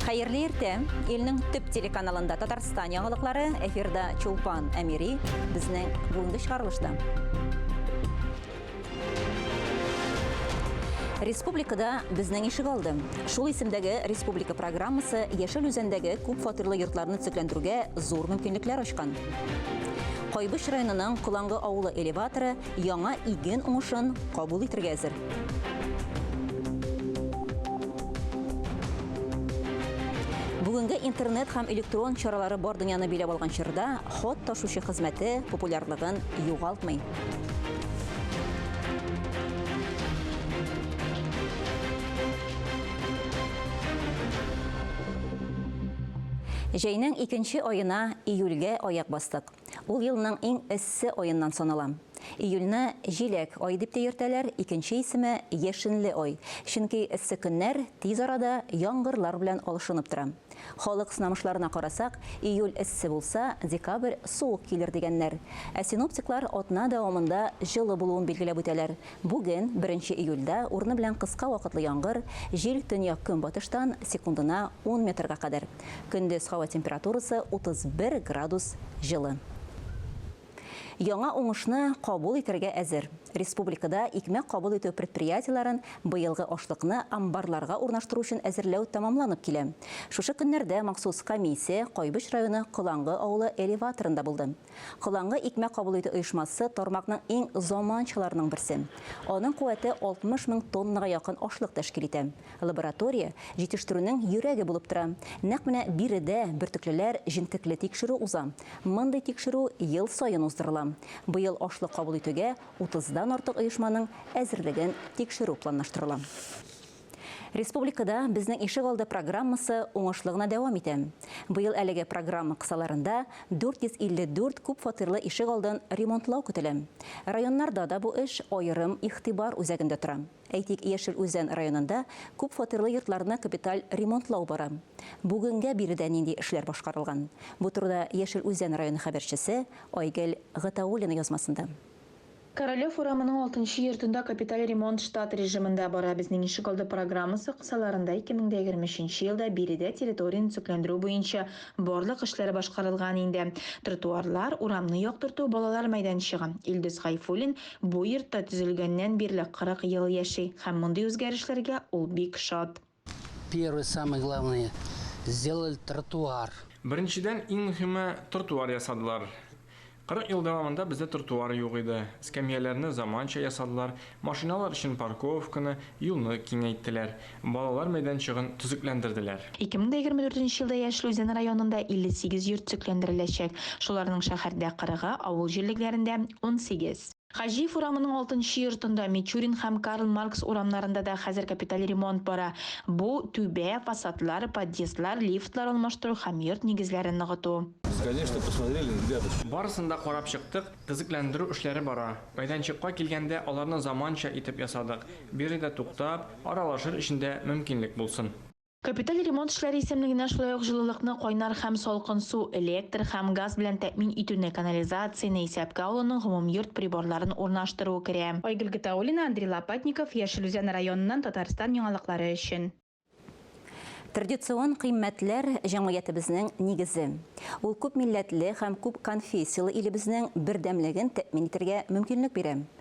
Хәерле иртә! Илнең төп телеканалында Татарстан яңалыклары, эфирда Чулпан Әмири, безнең бүгенге чыгарылышта. Республикада безнең ишек алды. Шул исемдәге республика программасы Яшел үзәндәге күп фатирлы йортларны төзекләндерүгә зур мөмкинлекләр ачкан. Кайбыч районының Кулангы авылы элеваторы яңа иген уңышын кабул итергә әзер. Бүгенге интернет һәм электрон чаралары бар дөньяны биләп алган чорда хат ташучы хезмәте популярлыгын югалтмый. Җәйнең икенче аена, июльгә аяк бастык. Ул елның иң эссе аеннан санала. Июльне җиләк ае дип тә йөртәләр, икенче исеме, яшенле ай, чөнки эссе көннәр тиз арада яңгырлар белән алышынып тора. Халык сынамышларына карасак, июль эссе булса, декабрь суык килер дигәннәр. Ә синоптиклар атна дәвамында җылы булуын билгеләп үтәләр, Бүген, беренче июльдә, урыны белән кыска вакытлы яңгыр, җил төньяк-көнбатыштан, секундына ун метрга кадәр. Көндез һава температурасы 31 градус җылы. Яңа уңышны кабул итәргә әзер. Республикада икмәк кабул итү предприятиеләрен быелгы ашлыкны амбарларга урнаштыру өчен әзерләү тәмамланып килә. Шушы көннәрдә махсус комиссия Кайбыч районы Колангы авылы элеваторында булды. Коланга икмәк кабул итү оешмасы тармакның иң заманчаларының берсе. Аның куәте 60 мең тоннага якын ашлык тәшкил итә. Лаборатория җитештерүнең йөрәге булып тора. Нәкъ менә биредә бөртеклеләр җентекле тикшерү уза. Мондый тикшерү ел саен уздырыла. Быел ашлык кабул итүгә 30 дан артык оешманың әзерлеген тикшерү планлаштырыла. Республикада Безнең ишегалды программасы уңышлы гына дәвам итә. Быел әлеге программа кысаларында 454 күпфатирлы ишек алдын ремонтлау көтелә. Районнарда да бу эш аерым игътибар үзәгендә тора. Әйтик, Яшел Үзән районында күпфатирлы йортларны капиталь ремонтлау бара. Бүгенгә биредә нинди эшләр башкарылган? Бу турыда Яшел Үзән районы хәбәрчесе Айгөл Гатауллина язмасында. Королев урамының алтынчы йортында капиталь ремонт штат режимында бара. Безнең ишегалды программасы кысаларында 2023 елда биредә территорияне төзекләндерү буенча барлык эшләр башкарылган инде. Тротуарлар, урамны яктырту, балалар мәйданчыгы. Илдус Гайфуллин бу йортта төзелгәннән бирле 40 ел яши һәм мондый үзгәрешләргә ул бик шат. Первый самый главный сделали тротуар. Беренчедән иң мөһиме тротуар ясадылар. 40 ел дәвамында бездә тротуар юк иде. Эскәмияләрне заманча ясадылар, машиналар өчен парковканы, юлны киңәйттеләр, балалар мәйданчыгын төзекләндерделәр. 2024 елда Яшел Үзән районында 58 йорт төзекләндереләчәк, шуларның шәһәрдә 40-ы, авыл җирлегләрендә, унсигез. Хаҗиев урамының алтынчы йортында, Мичурин һәм Карл Маркс урамнарында да хәзер капиталь ремонт бара. Бу, түбә, фасадлар, подъездлар, лифтлар алмаштыру һәм йорт нигезләрен ныгыту. Без, конечно, посмотрели ребятушки. Барысын да карап чыктык, төзекләндерү эшләре бара. Мәйданчыкка килгәндә, аларны заманча итеп ясадык. Биредә туктап, аралашыр өчен дә мөмкинлек булсын. Капиталь ремонт эшләре исемлегенә шулай ук җылылыкны, кайнар һәм салкын су, электр һәм газ белән тәэмин итүне, канализацияне исәпкә алуның гомумйорт приборларын урнаштыру керә. Айгөл Гатауллина, Андрей Лопатников, Яшел Үзән районыннан Татарстан яңалыклары өчен. Традицион кыйммәтләр, җәмгыятебезнең нигезе. Ул күп милләтле һәм күп конфессияле илебезнең бердәмлеген тәэмин итәргә мөмкинлек бирә.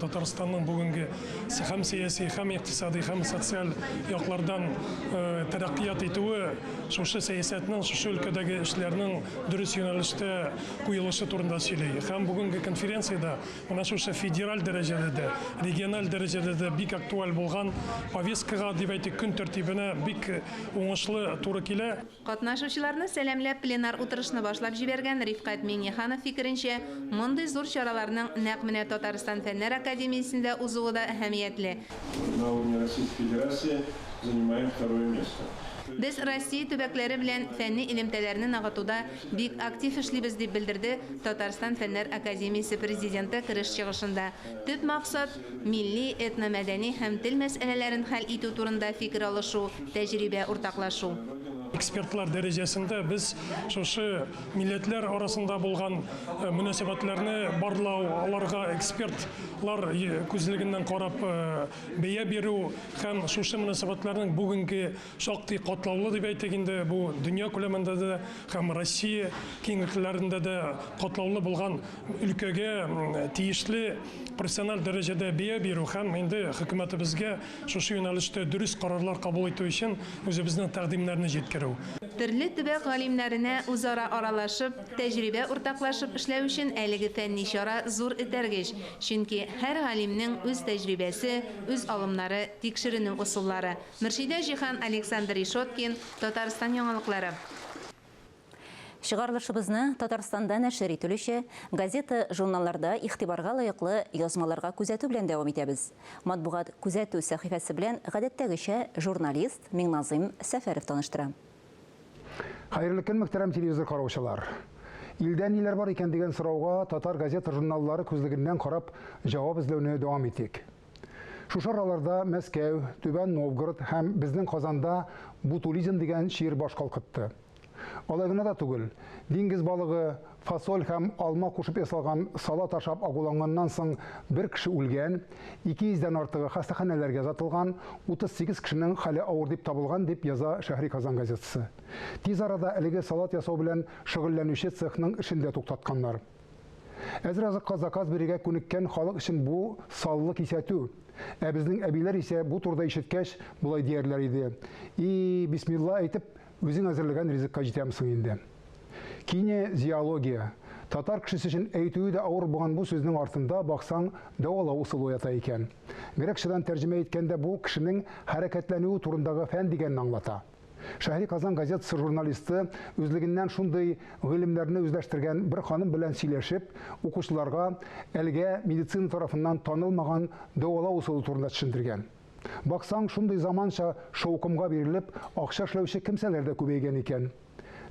Татарстанның бүгенге һәм сәяси, һәм икътисади, һәм социаль яклардан э, тәрәккыят итүе шушы сәясәтнең, шушы өлкәдәге эшләрнең дөрес юнәлештә куелышы турында сөйли. Һәм бүгенге конференциядә менә шушы федераль дәрәҗәдә дә, региональ дәрәҗәдә дә бик актуаль булган повесткага, дип әйтик, көн тәртибенә бик уңышлы туры килә. Катнашучыларны сәламләп пленар утырышны башлап җибәргән Рифкать Миңнеханов фикеренчә, мондый зур чараларның нәкъ менә Татарстан Фәннәр академиясендә узуы да әһәмиятле. На уровне Российской Федерации занимаем второе место. Без Россия төбәкләре белән фәнни элемтәләрне ныгытуда бик актив эшлибез, дип белдерде Татарстан Фәннәр академиясе президенты кереш чыгышында. Төп максат, Милли, этномәдәни һәм тел мәсьәләләрен хәл итү турында фикер алышу, тәҗрибә уртаклашу. Экспертлар дәрәҗәсендә без шушы милләтләр арасында булган мөнәсәбәтләрне барлау, аларга эксперт лар күзлегеннән карап бәя бирү һәм шушы мөнәсәбәтләрнең бүгенге шактый катлаулы дип әйтик инде, бу дөнья күләмендә дә һәм Россия киңлекләрендә дә катлаулы булган өлкәгә тиешле профессиональ дәрәҗәдә бия бирү һәм инде хөкүмәтебезгә шушы юнәлештә дөрес карарлар кабул итү өчен үзебезнең тәкъдимнәрне җиткерү. Төрле төбәк галимнәренә үзара аралашып, тәҗрибә уртаклашып эшләү өчен әлеге фәнни чара зур этәргеч, чөнки һәр галимнең үз тәҗрибәсе, үз алымнары, тикшеренү ысуллары, Мөршидә Җиһан, Александр Решеткин, Татарстан яңалыклары. Чыгарылышыбызны Татарстанда нәшер ителүче газета-журналларда игътибарга лаеклы язмаларга күзәтү белән дәвам итәбез. Матбугат күзәтү сәхифәсе белән гадәттәгечә журналист Миңназыйм Сәфәров таныштыра. Хәерле көн, мөхтәрәм телевизор караучылар! Илдә ниләр бар икән дигән сорауга татар газета-журналлары күзлегеннән карап җавап эзләүне дәвам итик. Шушы араларда Мәскәү, Түбән Новгород һәм безнең Казанда бутулизм дигән чир баш калкытты. Алай гына да түгел, диңгез балыгы, фасоль һәм алма кушып ясалган салат ашап агуланганнан соң бер кеше үлгән, 200 дән артыгы хастаханәләргә озатылган, 38 кешенең хәле авыр дип табылган, дип яза Шәһри Казан газетасы. Тиз арада әлеге салат ясау белән шөгыльләнүче цехның эшен дә туктатканнар. Әзер азыкка заказ бирергә күнеккән халык өчен бу саллы кисәтү. Ә безнең әбиләр исә бу турыда ишеткәч, болай диярләр иде, И, бисмилла әйтеп, үзең әзерләгән ризыкка җитәм соң инде. Кине зиология. Татар кешесе өчен әйтүе дә авыр булган бу сүзнең артында, баксаң, дәвалау усылы ята икән. Грекчадан тәрҗемә иткәндә бу кешенең хәрәкәтләнүе турындагы фән дигәнне аңлата. Шәһри Казан газетасы журналисты үзлегеннән шундый гыйлемнәрне үзләштергән бер ханым белән сөйләшеп, укучыларга әлегә медицина тарафыннан танылмаган дәвалау усылы турында төшендергән. Баксаң, шундый заманча шаукымга бирелеп, акча эшләүче кемсәләр дә күбәйгән икән.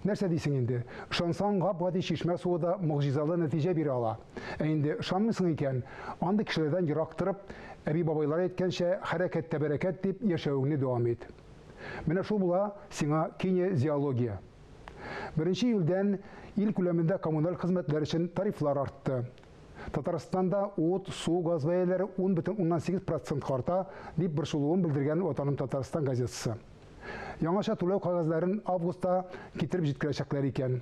Нәрсә дисең инде, ышансаң, гап-гади чишмә суы да могҗизалы нәтиҗә бирә ала. Ә инде ышанмыйсың икән, андый кешеләрдән ерак торып, әби-бабайлар әйткәнчә, хәрәкәттә бәрәкәт дип, яшәвеңне дәвам ит. Менә шул була сиңа кинезиология. Беренче июльдән ил күләмендә коммуналь хезмәтләр өчен тарифлар артты. Татарстанда ут, су, газ бәяләре 10,8 процентка арта, дип борчылуын белдергән Ватаным Татарстан газетасы. Яңача түләү кәгазьләрен августта китереп җиткерәчәкләр икән.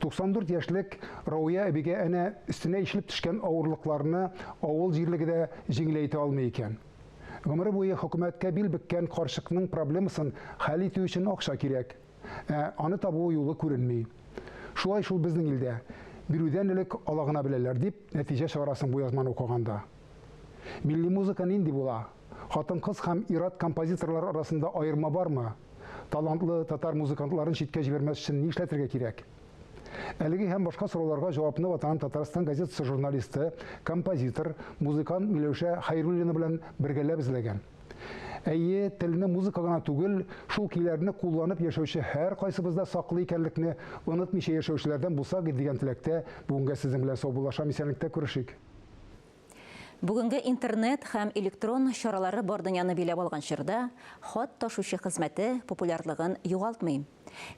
94 яшьлек Рауя әбигә әнә өстенә ишелеп төшкән авырлыкларны авыл җирлеге дә җиңел әйтә алмый икән. Гомере буе хөкүмәткә бил беккән карчыкның проблемасын хәл итү өчен акча кирәк. Ә аны табу юлы күренми. Шулай шул безнең илдә. Бирүдән элек ала гына беләләр, дип нәтиҗә чыгарасың бу язманы укыганда. Милли музыка нинди була? Хатын-кыз һәм ир-ат композиторлар арасында аерма бармы? Талантлы татар музыкантларын читкә җибәрмәс өчен ни эшләтергә кирәк? Әлеге һәм башка сорауларга җавапны Ватаным Татарстан газетасы журналисты, композитор, музыкант Миләүшә Хәйруллина белән бергәләп эзләгән. Әйе, телне музыка гына түгел, шул көйләрне кулланып яшәүче һәркайсыбыз да саклы икәнлекне онытмыйча яшәүчеләрдән булсак иде дигән теләктә, бүгенгә сезнең белән саубуллашам, исәнлектә күрешик. Бүгенге интернет һәм электрон чаралары бар дөньяны биләп алган чорда хат ташучы хезмәте популярлыгын югалтмый.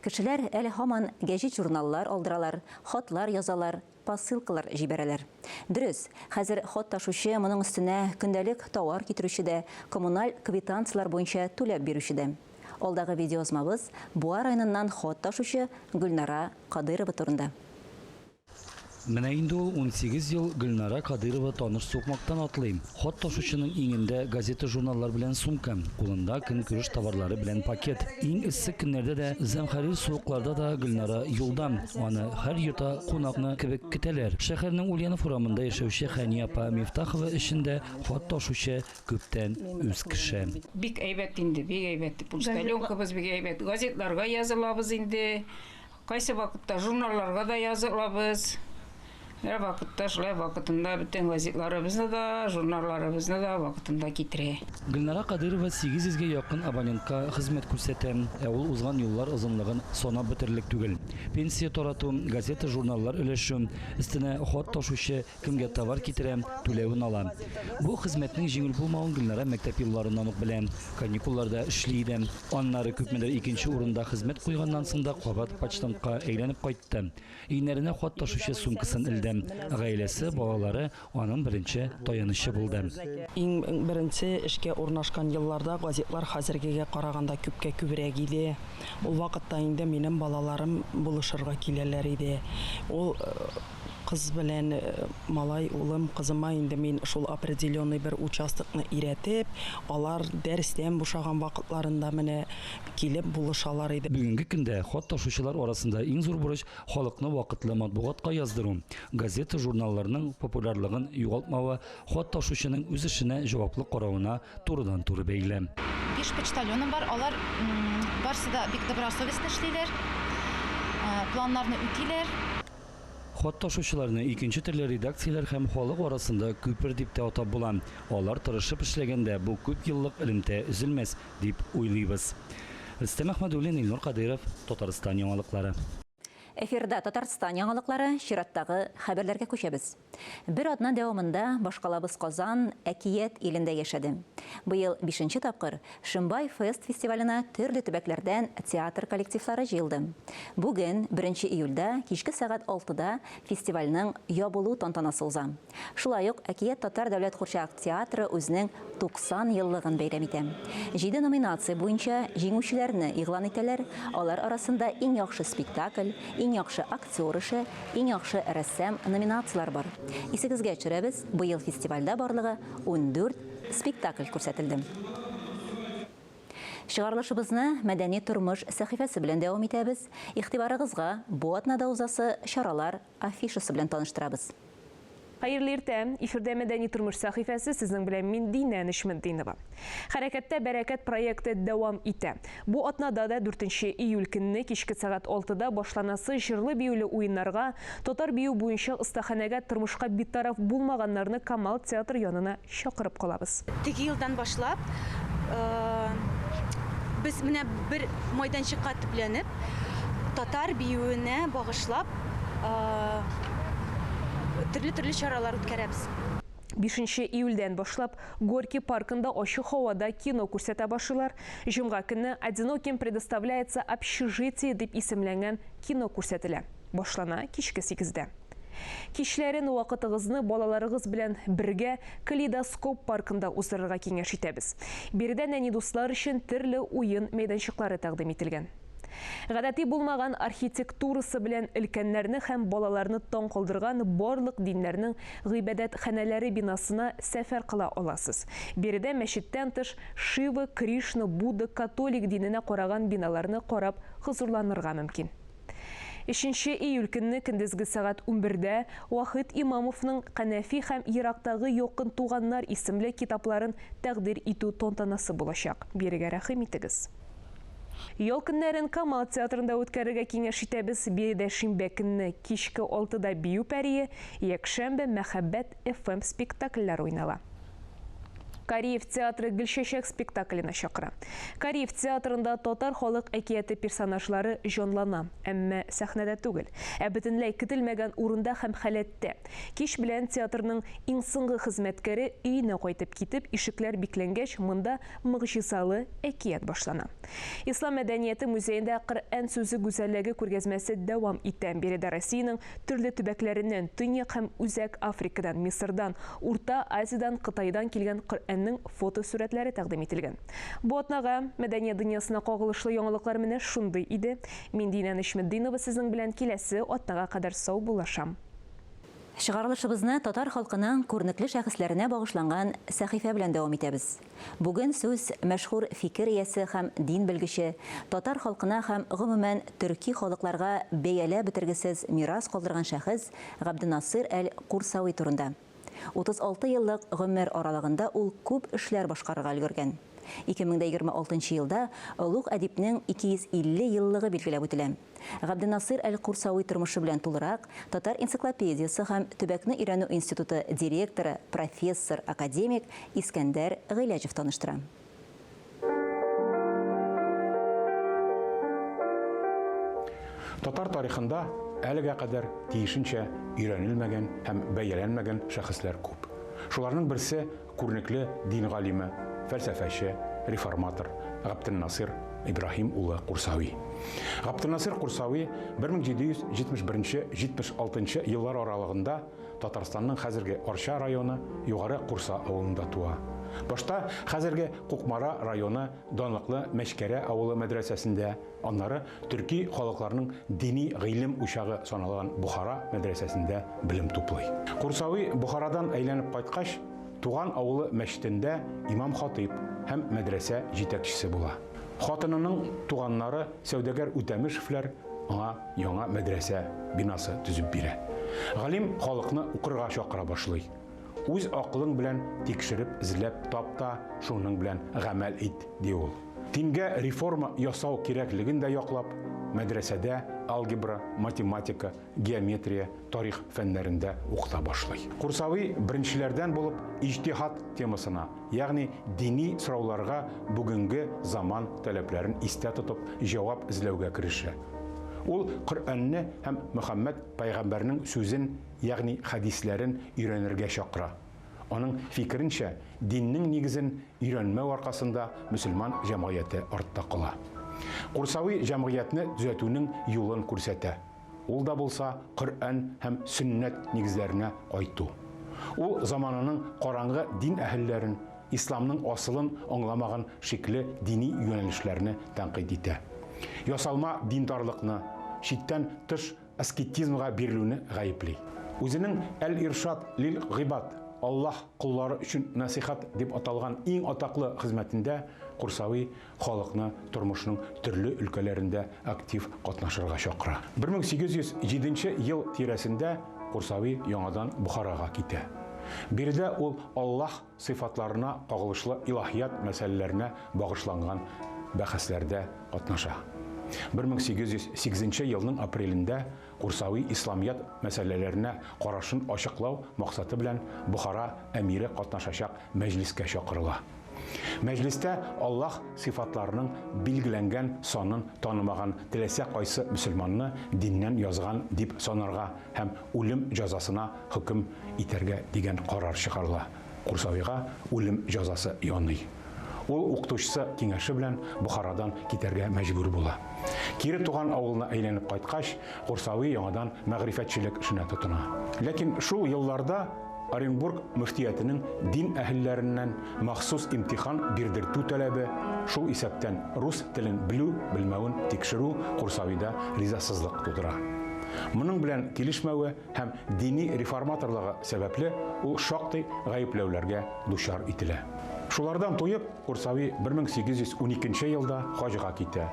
Кешеләр әле һаман гәҗит-журналлар алдыралар, хатлар язалар, посылкалар җибәрәләр. Дөрес, хәзер хат ташучы, моның өстенә көндәлек тауар китерүче дә, коммуналь квитанцияләр буенча түләп бирүче дә. Алдагы видеоязмабыз Буа районыннан хат ташучы Гөлнара Кадыйрова турында. Менә инде ул унсигез ел Гөлнара Кадыйрова таныш сукмактан атлыйм. Хат ташучының иңендә газета-журналлар белән сумка, кулында көнкүреш товарлары белән пакет. Иң эссе көннәрдә дә, зәмхәрир суыкларда да Гөлнара юлда. Аны һәр йота, кунакны кебек көтәләр. Шәһәрнең Ульянов урамында яшәүче Хәния апа Мифтахова өчен дә хат ташучы күптән үз кеше. Бик әйбәт инде, бик әйбәт. Пучтальонкабыз бик әйбәт. Газетларга язылабыз инде. Кайсы вакытта журналларга да яза алабыз. Бер вакытта шулай вакытында бөтен газетларыбызны да, журналларыбызны да вакытында китерә. Гөлнара Кадыйрова 800 гә якын абонентка хезмәт күрсәтә, ә ул узган юллар озынлыгын санап бетерлек түгел. Пенсия тарату, газета-журналлар өләшү, өстенә хат ташучы, Кемгә товар китерәм, түләвен алам. Бу хезмәтнең җиңел булмавын Гөлнара мәктәп елларыннан ук белә. Каникулларда эшли иде. Аннары күпмедер икенче урында хезмәт куйганнан соң да кабат почтамтка әйләнеп кайтты. Иңнәренә хат ташучы сумкасын элде. Гаиләсе, балалары аның беренче таянычы булды. Иң беренче эшкә урнашкан елларда газетлар хәзергегә караганда күпкә күбрәк иде. Ул вакытта инде минем балаларым булышырга киләләр иде. Ул Кыз белән малай, улым, кызыма инде мин шул определенный бер участокны өйрәтеп, алар дәрестән бушаган вакытларында менә килеп булышалар иде. Бүгенге көндә хат ташучылар арасында иң зур бурыч, халыкны вакытлы матбугатка яздыру. Газета-журналларның популярлыгын югалтмавы хат ташучының үз эшенә җаваплы каравына турыдан-туры бәйле. Биш почтальоным бар, алар барысы да бик добросовестно эшлиләр, планнарны үтиләр. Хат ташучыларны икенче төрле редакцияләр һәм халык арасында күпер дип тә атап була. Алар тырышып эшләгәндә бу күп еллык элемтә өзелмәс, дип уйлыйбыз. Рөстәм Әхмәдуллин, Илнур Кадыйров, Татарстан яңалыклары. Эфирда Татарстан яңалыклары, чираттагы хәбәрләргә күчәбез. Бер атна дәвамында башкалабыз Казан, Әкият илендә яшәде. Быел бишенче тапкыр Шимбай фест фестиваленә төрле төбәкләрдән театр коллективлары җыелды. Бүген, беренче июльдә, кичке сәгать алтыда фестивальнең ябылу тантанасы уза. Шулай ук Әкият татар дәүләт курчак театры үзенең 90 еллыгын бәйрәм итә. Җиде номинация буенча җиңүчеләрне игълан итәләр, алар арасында Иң яхшы спектакль, Иң яхшы актер эше, Иң яхшы рәссам номинацияләре бар. Исегезгә төшерәбез, быел фестивальдә барлыгы ундүрт спектакль күрсәтелде. Чыгарылышыбызны Мәдәни тормыш сәхифәсе белән дәвам итәбез, игътибарыгызга бу атнада узасы чаралар афишасы белән таныштырабыз. Хәерле иртә! Эфирдә Мәдәни тормыш сәхифәсе, сезнең белән мин Динә Нечметдинова. Хәрәкәттә бәрәкәт проекты дәвам итә. Бу атнада да, дүртенче июль көнне кичке сәгать алтыда башланасы җырлы-биюле уеннарга, татар бию буенча остаханәгә тормышка битараф булмаганнарны Камал театры янына Чакырып калабыз. Теге елдан башлап, без менә бер майданчыкка төпләнеп, татар биюенә багышлап, төрле-төрле чаралар үткәрәбез. Бишенче июльдән башлап, Горький паркында ачык һавада кино күрсәтә башлыйлар. Җомга көнне Одиноким предоставляется общежитие дип исемләнгән кино күрсәтелә. Башлана кичке сигездә. Кичләрен вакытыгызны балаларыгыз белән бергә Калейдоскоп паркында уздырырга киңәш итәбез. Биредә нәни дуслар өчен төрле уен мәйданчыклары тәкъдим ителгән. Гадәти булмаган архитектурасы белән өлкәннәрне һәм балаларны таң калдырган барлык диннәрнең гыйбадәтханәләре бинасына сәфәр кыла аласыз. Биредә мәчеттән тыш Шива, Кришна, Будда, католик диненә караган биналарны карап хозурланырга мөмкин. Өченче июль көнне көндезге сәгать унбердә Вахит Имамовның Канәфи һәм Ерактагы якын туганнар исемле китапларын тәкъдир итү тантанасы булачак. Бирегә рәхим итегез! Ял көннәрен Камал театрында үткәрергә киңәш итәбез, биредә шимбә көнне кичке алтыда Бию пәрие, якшәмбе, Мәхәббәт, FM спектакльләр уйнала. Кариев театры Гөлчәчәк спектакленә чакыра. Кариев театрында татар халык әкияте персонажлары җанлана, әмма сәхнәдә түгел, ә бөтенләй көтелмәгән урында һәм халәттә. Кич белән театрның иң соңгы хезмәткәре өенә кайтып китеп, ишекләр бикләнгәч, монда могҗизалы әкият башлана. Ислам мәдәнияте музеенда Коръән сүзе гүзәллеге күргәзмәсе дәвам итә. Биредә Россиянең Төрле төбәкләреннән, Төньяк һәм Үзәк Африкадан, Мисырдан, Урта Азиядән, Кытайдан килгән Коръәннең фотосурәтләре тәкъдим ителгән. Бу атнага мәдәният дөньясына кагылышлы яңалыклар менә шундый иде. Мин Динә Нечметдинова сезнең белән киләсе атнага кадәр саубуллашам. Чыгарылышыбызны татар халкының күренекле шәхесләренә багышланган сәхифә белән дәвам итәбез. Бүген сүз мәшһүр фикер иясе һәм дин белгече, татар халкына һәм, гомумән, төрки халыкларга бәяләп бетергесез мирас калдырган шәхес Габденасыйр әл-Курсави турында. 36 еллык гомер аралыгында ул күп эшләр башкарырга өлгергән. 2026 елда олуг әдипнең 250 еллыгы билгеләп үтелә. Габденасыйр әл-Курсави тормышы белән тулырак Татар энциклопедиясе һәм төбәкне өйрәнү институты директоры, профессор, академик Искәндәр Гыйләҗев таныштыра. Татар тарихында әлегә кадәр тиешенчә өйрәнелмәгән һәм бәяләнмәгән шәхесләр күп. Шуларның берсе Күренекле дин галиме, фәлсәфәче, реформатор Габделнасыйр Ибраһим улы Курсави. Габделнасыйр Курсави 1771-76 еллар аралыгында Татарстанның хәзерге Арча районы Югары Курса авылында туа. Башта хәзерге Кукмара районы данлыклы Мәчкәрә авылы мәдрәсәсендә Аннары төрки халыкларның дини гыйлем учагы саналган Бохара мәдрәсәсендә белем туплый. Курсави Бохарадан әйләнеп кайткач, туган авылы мәчетендә имам-хатыйб һәм мәдрәсә җитәкчесе була. Хатынының туганнары сәүдәгәр Үтәмешевләр аңа яңа мәдрәсә бинасы төзеп бирә. Галим халыкны укырга чакыра башлый. Үз акылың белән тикшереп, эзләп тап та, шуның белән гамәл ит, ди ул. Дингә реформа ясау кирәклеген дә яклап, мәдрәсәдә алгебра, математика, геометрия, тарих фәннәрендә укыта башлый. Курсави беренчеләрдән булып иҗтиһад темасына, ягъни дини сорауларга бүгенге заман таләпләрен истә тотып җавап эзләүгә керешә. Ул Коръәнне һәм Мөхәммәд пәйгамбәрнең сүзен ягъни хәдисләрен өйрәнергә чакыра. Аның фикеренчә, диннең нигезен өйрәнмәү аркасында мөселман җәмгыяте артта кала. Курсави җәмгыятьне төзәтүнең юлын күрсәтә, ул да булса Коръән һәм Сөннәт нигезләренә кайту. Ул замананың караңгы дин әһелләрен, исламның асылын аңламаган шикле дини юнәлешләрне тәнкыйть итә. Ясалма диндарлыкны, чиктән тыш аскетизмга бирелүне гаепли. Үзенең Әл-Иршад лил гыйбад, Аллаһ коллары өчен нәсыйхәт, дип аталган иң атаклы хезмәтендә Курсави халыкны тормышның төрле өлкәләрендә актив катнашырга чакыра. 1807 ел тирәсендә Курсави яңадан Бохарага китә. Биредә ул Аллаһ сыйфатларына кагылышлы илаһият мәсьәләләренә багышланган бәхәсләрдә катнаша. 1808 елның апрелендә Курсави исламият мәсьәләләренә карашын ачыклау максаты белән Бохара әмире катнашачак мәҗлескә чакырыла. Мәҗлестә Аллаһ сыйфатларының билгеләнгән санын танымаган теләсә кайсы мөселманны диннән язган дип санарга һәм үлем җәзасына хөкем итәргә дигән карар чыгарыла, Курсавига үлем җәзасы яный. Ул укытучысы киңәше белән Бохарадан китәргә мәҗбүр була. Кире туган авылына әйләнеп кайткач, Курсави яңадан мәгърифәтчелек эшенә тотына. Ләкин шул елларда Оренбург мөфтиятенең дин әһелләреннән махсус имтихан бирдертү таләбе, шул исәптән рус телен белү-белмәвен тикшерү Курсавида ризасызлык тудыра. Моның белән килешмәве һәм дини реформаторлыгы сәбәпле ул шактый гаепләүләргә дучар ителә. Шулардан туеп, Курсави 1812 елда хаҗга китә.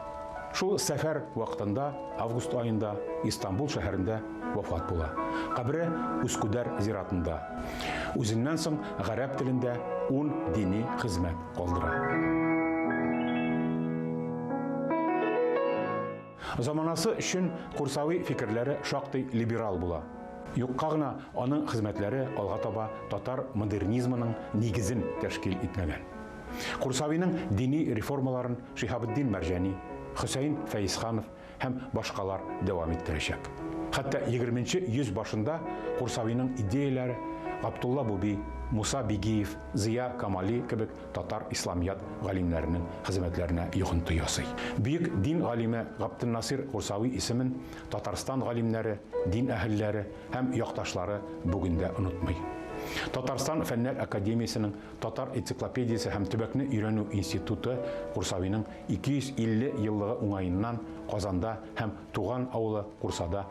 Шул сәфәр вакытында, август аенда, Истанбул шәһәрендә вафат була. Кабере Ускүдәр зиратында. Үзеннән соң гарәп телендә ун дини хезмәт калдыра. Заманасы өчен курсави фикерләре шактый либерал була. Юкка гына аның хезмәтләре алга таба татар модернизмының нигезен тәшкил итмәгән. Курсавиның дини реформаларын Шиһабетдин Мәрҗани, Хөсәен Фәезханов һәм башкалар дәвам иттерәчәк. Хәтта егерменче йөз башында Курсавиның идеяләре Габдулла Буби, Муса Бигиев, Зыя Камали кебек татар исламият галимнәренең хезмәтләренә йогынты ясый. Бөек дин галиме Габденнасир Гурсави исемен Татарстан галимнәре, дин әһелләре һәм якташлары бүген дә онытмый. Татарстан Фәннәр академиясенең Татар энциклопедиясе һәм төбәкне өйрәнү институты Гурсавиның 250 еллыгы уңаеннан Казанда һәм туган авылы Гурсада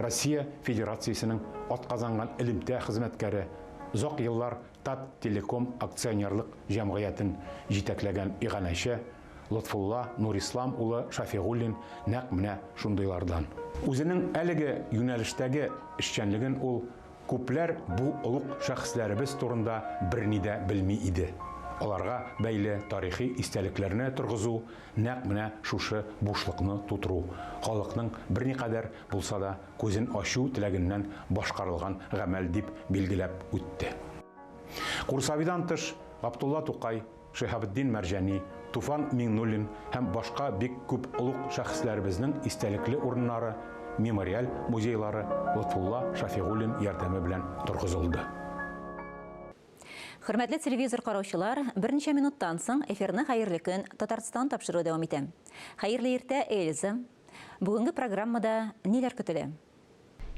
Россия Федерациясенең атказанган элемтә хезмәткәре, озак еллар Тат-Телеком акционерлык җәмгыятен җитәкләгән иганәче Лотфулла Нурислам улы Шафигуллин нәкъ менә шундыйлардан. Үзенең әлеге юнәлештәге эшчәнлеген ул күпләр бу олуг шәхесләребез турында берни дә белми иде. Аларга бәйле тарихи истәлекләрне торгызу Нәкъ менә шушы бушлыкны тутыру халыкның берникадәр булса да күзен ачу теләгеннән башкарылган гамәл, дип билгеләп үтте. Курсавидан тыш, Габдулла Тукай, Шиһабетдин Мәрҗани, Туфан Миңнуллин һәм башка бик күп олуг шәхесләребезнең истәлекле урыннары, мемориаль музейлары Лотфулла Шафигуллин ярдәме белән торгызылды. Хөрмәтле телевизор караучылар, берничә минуттан соң эфирны Хәерле көн, Татарстан тапшыруы дәвам итә. Хәерле иртә, Эльза! Бүгенге программада ниләр көтелә?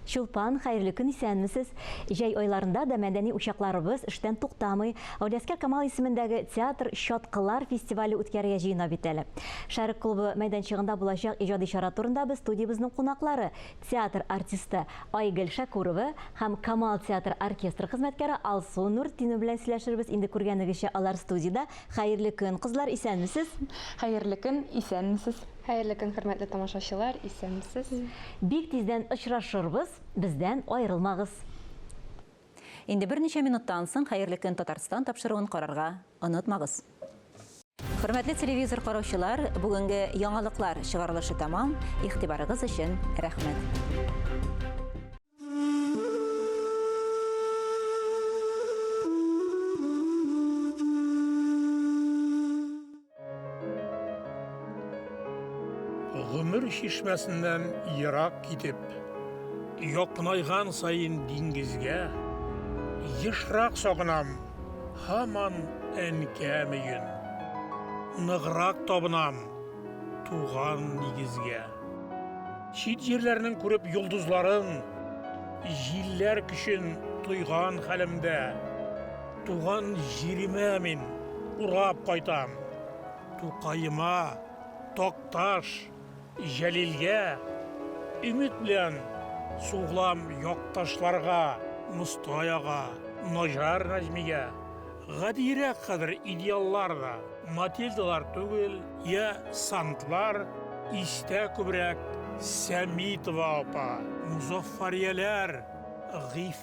Чулпан, хәерле көн, исәнмесез! Җәй айларында да мәдәни учакларыбыз эштән туктамый. Гауләскә Камал исемендәге театр Чаткылар фестивале үткәрергә җыена бит әле. Шәрык клубы мәйданчыгында булачак иҗади чара турында без студиябезнең кунаклары, Театр артисты Айгөл Шәкүрова һәм Камал театр оркестры хезмәткәре Алсу Нуртдинова белән сөйләшербез. Инде күргәнегезчә, алар студиядә. Хәерле көн, кызлар, исәнмесез? Хәерле көн, исәнмесез? Хәерле көн, хөрмәтле тамашачылар, исәнмесез? Бик тиздән очрашырбыз, бездән аерылмагыз! Инде берничә минуттан соң Хәерле көн Татарстан тапшыруын карарга онытмагыз. Хөрмәтле телевизор караучылар, бүгенге яңалыклар чыгарылышы тәмам, игътибарыгыз өчен рәхмәт. Гомер чишмәсеннән ерак китеп, якынайган саен диңгезгә, ешрак сагынам һаман әнкәм өен. Ныграк табынам туган нигезгә. Чит җирләрнең күреп йолдызларын, җилләр көчен тойган хәлемдә, Туган җиремә мин урап кайтам. Тукаема, Такташ, Җәлилгә. Өмет белән сугылам якташларга, Мостай ага, Наҗар Нәҗмигә. Гадиерәк хәзер идеаллар да, Матильдалар түгел, йә Сантлар, Истә күбрәк Сәмитова апа, Мозаффарияләр, Гыйф.